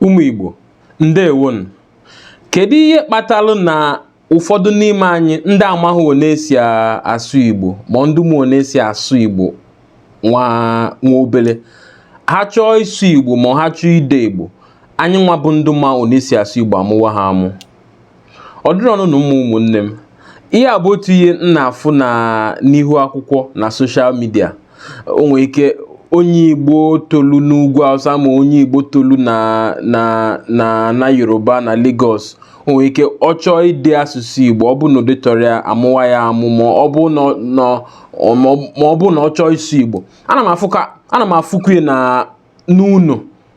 Ụmụ Igbo, ndewonu. Kedu ihe kpatalụ na ụfọdụ n'ime anyị ndị amaghị one esi asụ Igbo ma ndị ma one esi asụ Igbo nwa nwa obele ha chọọ ịsụ Igbo ma ha chọọ ide Igbo anyị nwa bụ ndị ma one esi asụ Igbo amụwa ha amụ ọ dịrọnụ mma ụmụnne m ihe a bụ otu ihe m na-afụ na n'ihu akwụkwọ na social media o nwere ike onye igbo tolu n'ugwu awụsa ma onye igbo tolu na na na na yoruba na Lagos o nwere ike ọ chọọ ide asụsụ igbo ọ bụ na o detarọ ya a mụwa ya amụ ma ọ bụ na ọ- na ọ- ma ọ bụ na ọ chọọ ịsụ igbo ana m afụ ka ana m afụkwu ya na n'ụnọ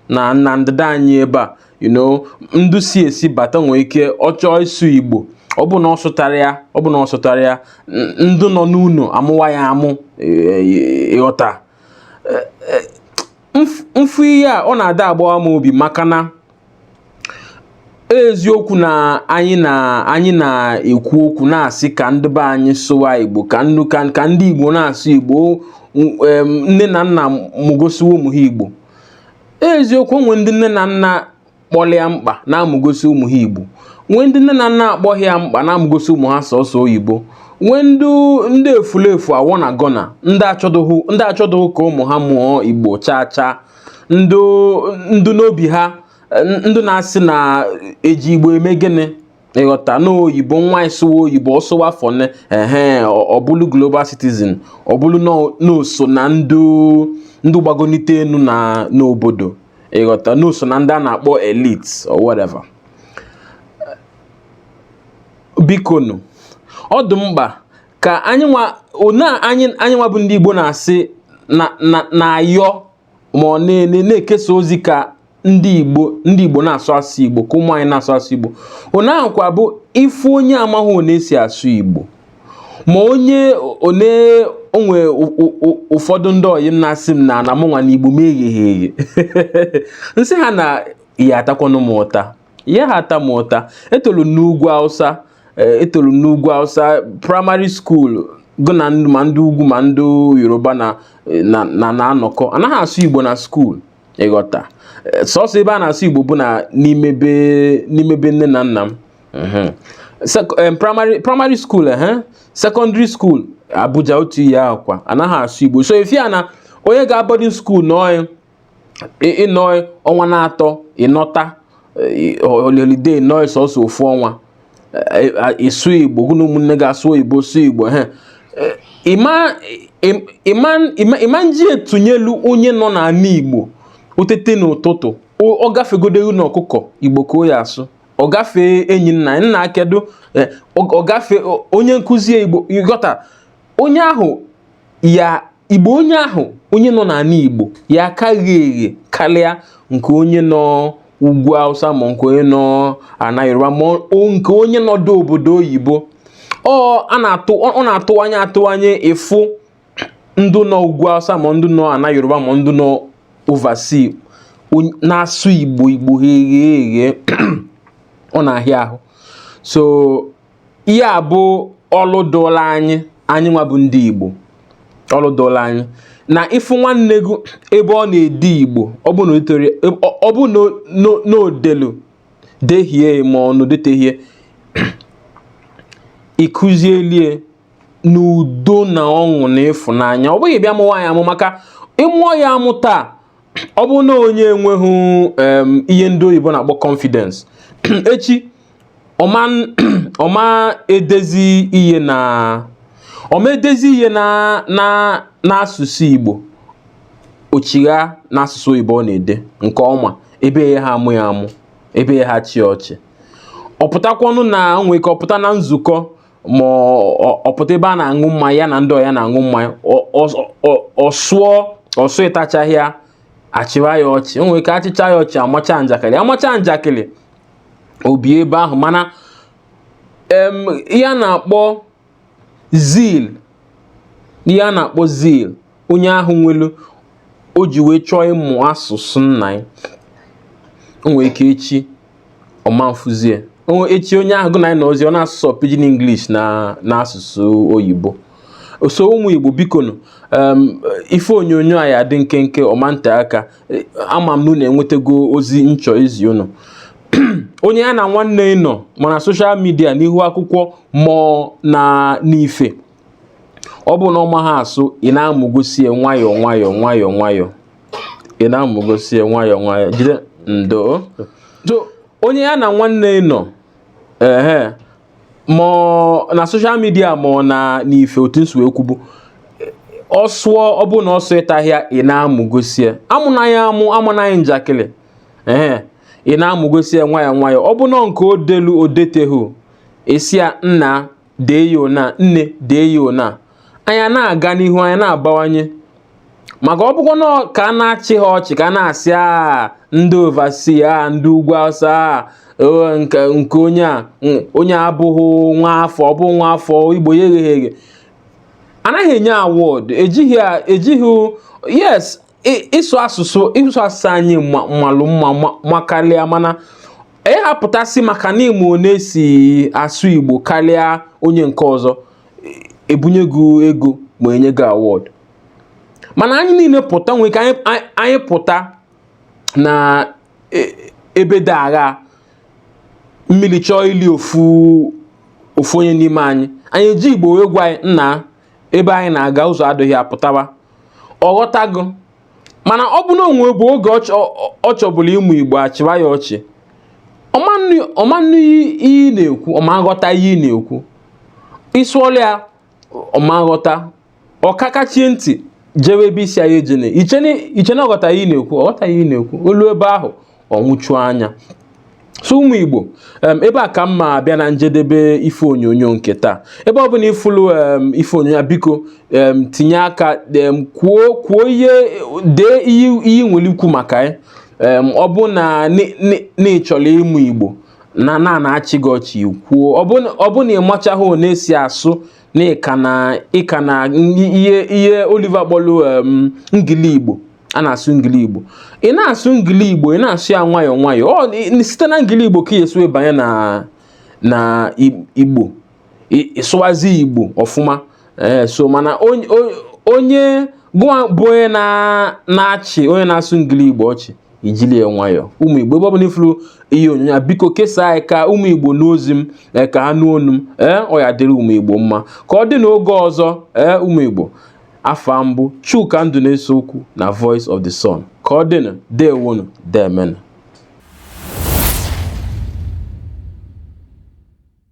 na na ndịda anyị ebe a you know ndụ si esi bata nwee ike ọ chọọ ịsụ igbo ọ bụ na ọ sụtarọ ya ọ bụ na ọ sụtarọ ya ndụ nọ n'ụnọ amụwa ya amụ e, e, ị ghọta e, m fụ ihe a ọ na-ada agbawa m obi maka na eziokwu na anyị na anyị na-ekwu okwu na-asị ka ndị be anyị sụwa igbo ka nnu ka ka ndị igbo na-asụ igbo em, nne na nna mụgosiwa ụmụ ha igbo eziokwu nwe ndị nne na nna kpọlụ ya mkpa na-amụgosi ụmụ ha igbo nwee ndị nne na nna akpọghị ya mkpa na-amụgosi ụmụ ha sọsọ oyibo nwee ndị ndị efulefu awọ na gọna ndị achọdụghị ndị achọdụghị ka ụmụ ha mụọ igbo chaa chaa ndụ ndụ n'obi ha ndụ na-asị na e ji igbo eme gịnị ị ghọta na oyibo nwa ị sụwa oyibo ọ sụwa fọne ehe ọ bụlụ global citizen ọ bụlụ na o so na ndụ ndụ gbagonite enu na n'obodo ị ghọta na o so na ndị a na-akpọ elite or whatever bikonu ọ dị mkpa ka anyị nwa one anyị anyị nwa bụ ndị Igbo na-asị na na na-ayọ ma ọ na-ele na-ekesa ozi ka ndị Igbo ndị Igbo na-asụ asụ Igbo ka ụmụ anyị na-asụ asụ Igbo one ahụkwa bụ ị fụ onye amaghị one esi asụ Igbo ma onye one o nwee ụfọdụ ndị ọyị m na-asị m na na mụnwa na Igbo m egheghị eghe m sị ha na ya atakwanụ m ụta ya ha ata m ụta etolu n'ugwu Hausa Eh, etolu m n'ugwu Hausa primary school gụ na ndị ma ndị ugwu ma ndị yoruba na eh, na na- na-anọkọ anaghị asụ igbo na school ị ghọta Eh, sọsọ ebe a na-asụ igbo bụ na n'ime be n'ime be nne na nna m Mhm. Sec- em, primary primary school ehe secondary school abuja otu ihe ahụ kwa anaghị asụ igbo so ị fụ ya na onye ga boarding school na onye ịnọ ọnwa na-atọ ịnọta holiday ịnọ sọsọ ofu ọnwa ịsụ igbo gụ na ụmụnne gị asụ oyibo sụ igbo ha ị ma nji e tụnyelu onye nọ n'ala igbo o tete n'ụtụtụ ọ gafegodu hụ ọkụkọ igbo ka o ya asụ ọ gafee enyi nna nna kedu ọ gafee onye nkụzi igbo ịghọta onye ahụ ya Igbo onye ahụ onye nọ n'ala Igbo ya-aka eghe eghe karịa nke onye nọ ugwu Hausa ma nke onye nọ ana Yoruba ma nke onye nọdụ obodo oyibo ọ na-atụ anya atụ anya ị fụ ndụ nọ ugwu Hausa ma ndụ nọ ana Yoruba ma ndụ nọ overseas na-asụ Igbo Igbo eghe eghe ọ na-ahịa ahụ so ihe a bụ ọlụ dụlụ anyị anyị nwa bụ ndị Igbo ọlụ dụlụ anyị na ị fụ nwanne gị ebe ọ na-ede Igbo ọ bụ na itere ọ bụ na o delu dehie ma ọ na o detehie ị kụzielie n'udo na ọṅụ na ịfụnanya ọ bụghị bịa mụwa ya amụ maka ị mụọ ya amụ taa ọ bụ na onye enweghị ihe ndị oyibo na-akpọ confidence echi ọ ma ọ ma edezi ihe na ọ ma edezi ihe na na n'asụsụ Igbo o chigha n'asụsụ oyibo ọ na-ede nke ọma ebe a yaha amụ ya amụ ebe a yaha achị ya ọchị ọ pụtakwanụ na nwere ike ọ pụta na nzukọ ma ọ pụta ebe a na-aṅụ mmanya ya na ndị ọyị ya na-aṅụ mmanya ọ sụọ ọ sụtachahị ya a chịwa ya ọchị o nwere ike a chịcha ya ọchị a macha njakịrị a macha njakịrị o bie ebe ahụ mana ihe a na-akpọ zeal ihe a na-akpọ zeal onye ahụ nwelu o ji wee chọọ ịmụ asụsụ nna ya o nwere ike echi ọ ma nfuzie echi onye ahụ gụ na ya nọzi ọ n'asụsụ pidgin English na n'asụsụ oyibo so ụmụ Igbo bikonụ ife onyonyo a ya-adị nkenke ọ ma nte aka ama m na unu enwetago ozi m chọ izi unu onye ya na nwanne ya nọ ma na social media n'ihu akwụkwọ ma ọ na n'ife ọ bụ na ọ maha asụ ị na-amụgosi ya nwayọọ nwayọọ nwayọọ nwayọọ ị na-amụgosi ya nwayọọ nwayọọ jide ndo so onye ya na nwanne ya nọ ehe ma na social media ma ọ na n'ife otu m si wee kwubu ọ sụọ ọ bụ na ọ sụtahị ya ị na-amụ gosie amụna ya amụ amana ya njakịrị ee ị na-amụ gosie nwayọ nwayọ ọ bụ na nke o delu o detehu ị sị ya nna dee ya ona nne dee ya ona anyị ana-aga n'ihu anyị ana-abawanye maka ọ bụkwa na ka a na-achị ha ọchị ka a na-asị a ndị oversea a ndị ugwu awụsa a nke onye a onye abụghị nwa afọ ọ bụ nwa afọ igbo ya egheghị eghe anaghị enye award ejighị ejighị yes ịsụ asụsụ ịsụ asụsụ anyị malụ mma ma kalịa mana ị ya-apụta sị maka na ị ma ọ na-esi asụ Igbo kalịa onye nke ọzọ ebunye gị ego ma enye gị award mana anyị niile pụta nwere ike anyị pụta na e, ebe dị agha mmili chọọ ili ofu ofu onye n'ime anyị anyị eji igbo wee gwa ya nna ebe ahụ ị na-aga ụzọ adịghị ya pụtawa ọ ghọta gị mana ọ bụ na o nwebu oge ọ chọbulu ịmụ igbo a chịwa ya ọchị ọ ma nụ ihe ị na-ekwu ọ ma nghọta ihe ị na-ekwu ị sụọlụ ya ọ ma nghọta ọ kakachie ntị jewe ebe ị sị ya ejene i chee na ọ ghọta ihe ị na-ekwu ọ ghọta ihe ị na-ekwu o luo ebe ahụ ọ nwụchu anya so ụmụ igbo ebe a ka m ma abịa na njedebe ife onyonyo nke taa ebe ọbụna ị fụlụ ife onyonyo biko tinye aka kwuo kwuo ihe dee ihe i nwelu ikwu maka ya ọ bụ na ị chọlụ ịmụ igbo na a na-achị gị ọchị kwuo ọ bụ na ị machaghị ọ na-esi asụ na ị ka nọ n'ihe Oliver kpọlụ ngili igbo a na-asụ ngili igbo ị na-asụ ngili igbo ị na-asụ ya nwayọọ nwayọọ site na ngili igbo ka ị ya-esi wee banye na na igbo ị sụwazie igbo ọfụma ee eh, so mana onye gụwa bụ onye na-achị onye na-asụ ngili igbo ọchị i jili ya nwayọọ ụmụ igbo ebe ọbụna ị fụrụ ihe onyonyo biko kesaa ya ka ụmụ igbo nụ ozi m eh, ka ha nụ onu m ee eh, ọ ya-adịrị ụmụ igbo mma ka ọ dị n'oge ọzọ ee ụmụ igbo afa m bụ Chuka Ndụneseokwu na Voice of the Sun ka ọ dịnụ dewonụ deemenụ